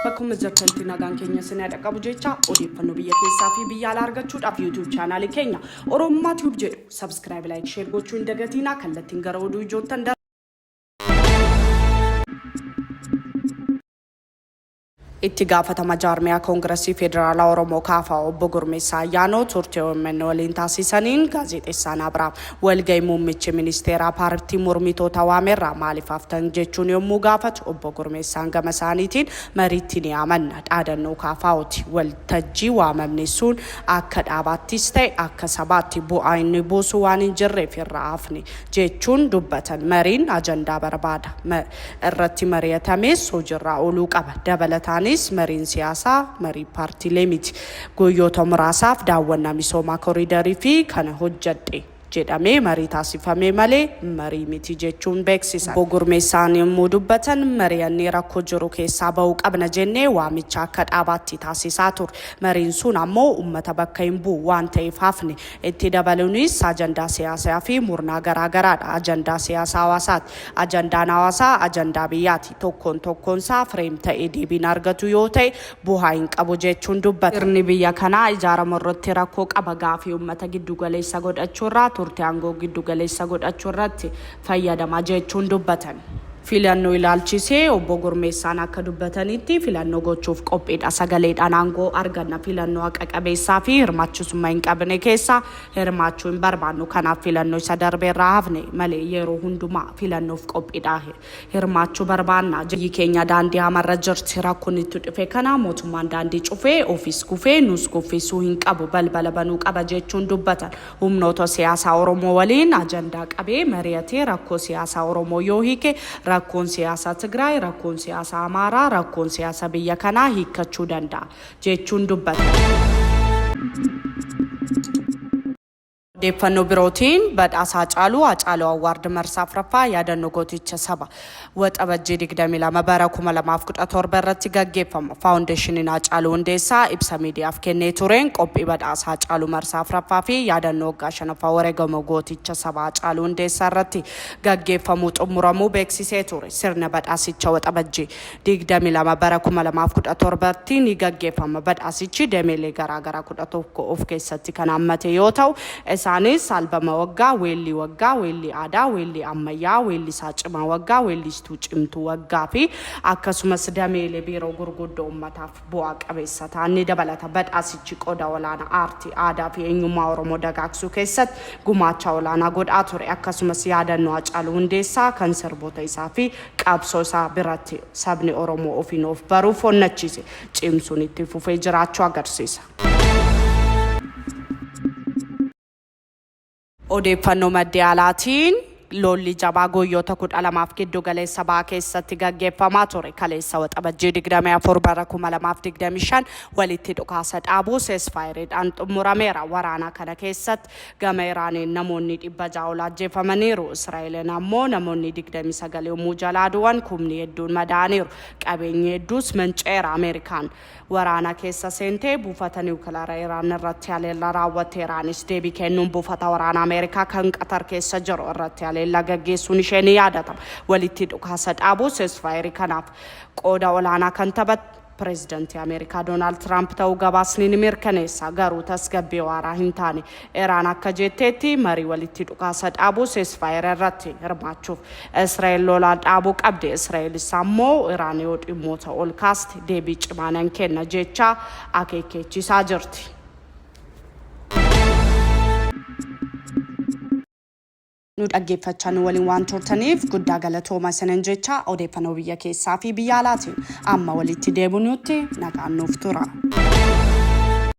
Akkuma jirtantu nagaan keenya isin yaada qabu jecha odeeffannoo biyya keessaa fi biyya alaa argachuudhaaf YouTube chaanaalii keenya Oromummaa Tube jedhu subscribe, like, share gochuu hin dagatiinaa kallattiin gara oduu ijoottan Itti gaafatama jaarmiyaa Koongirasii Federaalaa Oromoo, kfo, Obbo Gurmeessaa Ayyaanoo turtii omn waliin taasiisaniin Gaazexeessaan Abrahaam walgahii muummichi ministeeraa paartii mormitoota waamerraa maaliif haftan jechuun yommuu gaafatu Obbo Gurmeessaan gama isaaniitiin mariitti ni amanna. Dhaadannoo KFOti. Waltajjii waamamne sun akka dhaabaattis ta'e akka sabaatti bu'aa inni buusu waan hin jirreef irraa hafne jechuun dubbatan. Mariin ajandaa barbaada. irratti mari'atamees hojiirraa ooluu qaba. Dabalataanis mariin siyaasaa marii paartiilee miti. Guyyoota muraasaaf daawwannaa misoomaa koriidarii fi kana hojjedhe jedhamee marii taasifame malee marii miti jechuun beeksisan. Obbo Gurmeessaan yommuu dubbatan mari'annee rakkoo jiru keessaa ba'uu qabna jennee waamicha akka dhaabaatti taasisaa turre. Mariin sun ammoo uummata bakka hin bu'u waan ta'eef hafne. Itti dabalunis, ajandaa siyaasaa fi murnaa garaa garaa dha. Ajandaa siyaasaa hawaasaati. Ajandaan hawaasaa ajandaa biyyaati. Tokkoon tokkoon isaa frame ta'ee deebii hin argatu yoo ta'e buhaa hin qabu jechuun dubbata. Sirni biyya kanaa ijaaramu irratti rakkoo qaba. Gaafii ummata giddu galeessa godhachuu irraa turte aangoo giddu galeessa godhachuu irratti. fayyadama jechuun dubbatan. Filannoo ilaalchisee Obbo Gurmeessaan akka dubbatanitti, filannoo gochuuf qophiidha. Sagaleedhaan aangoo arganna. Filannoo haqa qabeessaa fi hirmaachisumma hin qabne keessa hirmaachuu hin barbaannu. Kanaaf filannoo isa darbe irraa hafne malee yeroo hundumaa filannoof qophiidha. Hirmaachuu barbaanna. Biyyi keenya daandii hamaarra jirti. Rakkoo nutti dhufe kana mootummaan daandii cufee, ofis kufee nuus kuffisuu hin qabu. Balbala banuu qaba jechuun dubbatan. Humnoota siyaasaa Oromoo waliin ajandaa qabee mari'atee rakkoo siyaasaa Oromoo yoo hiike rakkoon siyaasaa Tigraay, rakkoon siyaasaa Amaaraa, rakkoon siyaasa biyya kanaa hiikkachuu danda'a, jechuun dubbatan. Odeeffannoo birootiin, Badhaasa Hacaaluu, Haacaaluu Award marsaa 4ffaa, Yaadannoo Gooticha Saba. Waxabajjii 22 bara 2017 irratti gaggeeffamu Faawundeeshiniin Haacaaluu Hundeessaa ibsa miidiyaaf kennee tureen qophii badhaasa Haacaaluu marsaa 4ffaa fi yaadannoo waggaa 5ffaa wareegama gooticha sabaa Haacaaluu Hundeessaa irratti gaggeeffamuu xumuramuu beeksisee ture. Sirna badhaasicha Waxabajjii 22 bara 2017 tti ni gaggeeffama. Badhaasichi dameelee garaagaraa 11 of keessatti kan hammate yoo ta'u, Isaanis, albama waggaa, weellii waggaa, weellii aadaa, weellii ammayyaa, weellisaa cimaa waggaa, weelliistuu cimtuu waggaa fi akkasumas dameelee biiroo gurguddoo ummataaf bu'aa qabeessa ta'an ni dabalata. Badhaasichi qooda olaanaa aartii, aadaa fi eenyummaa Oromoo dagaagsuu keessatti gumaacha olaanaa godhaa ture. Akkasumas yaadannoo Hacaaluu Hundeessaa kan sirboota isaa fi qabsoo isaa biratti sabni Oromoo ofiin of baruuf onnachiise cimsuun itti fufee jiraachuu agarsiisa. Odeeffannoo maddee alaatiin lolli jabaa guyyoota kudha lamaaf giddu galeessa ba'aa keessatti gaggeeffamaa ture kaleessa waxabajjii 24 bara 2025 walitti dhukaasa dhaabuu seesfaayiridhaan xumurameera. Waraana kana keessatti gama Iraaniin namoonni dhibba ja'a ol ajjeefamaniiru. Israa'eliin ammoo namoonni 29 yommuu jalaa du'an kumni hedduun madaa'aniiru. Qabeenyi hedduus manca'eera. Ameerikaan waraana keessa seentee buufata niwukilaara Iraan irratti haleellaa raawwatte. Iraanis deebii kennuun buufata waraana Ameerikaa kan Qatar keessa jiru irratti haleellaa gaggeessuun ishee ni yaadatama. Walitti dhukaasa dhaabuu ceasefire kanaaf qooda olaanaa kan taphate Pireezidantii Ameerikaa Doonaald Tiraamp ta'uu gabaasni ni mirkaneessa. Garuu tasgabbii waaraa hin taane. Iraan akka jetteetti marii walitti dhukaasa dhaabuu, ceasefire, irratti hirmaachuuf Israa'el lola dhaabuu qabdi. Israa'elis ammoo Iraan yoo dhimmoota ol kaaste deebii cimaa nan kenna jechaa akeekkeechiisaa jirti. Nu dhaggeeffachaa nu waliin waan turtaniif guddaa galatooma isinan jechaa odeeffannoo biyya keessaa fi biyya alaatiin amma walitti deebinutti nagaan nuuf tura.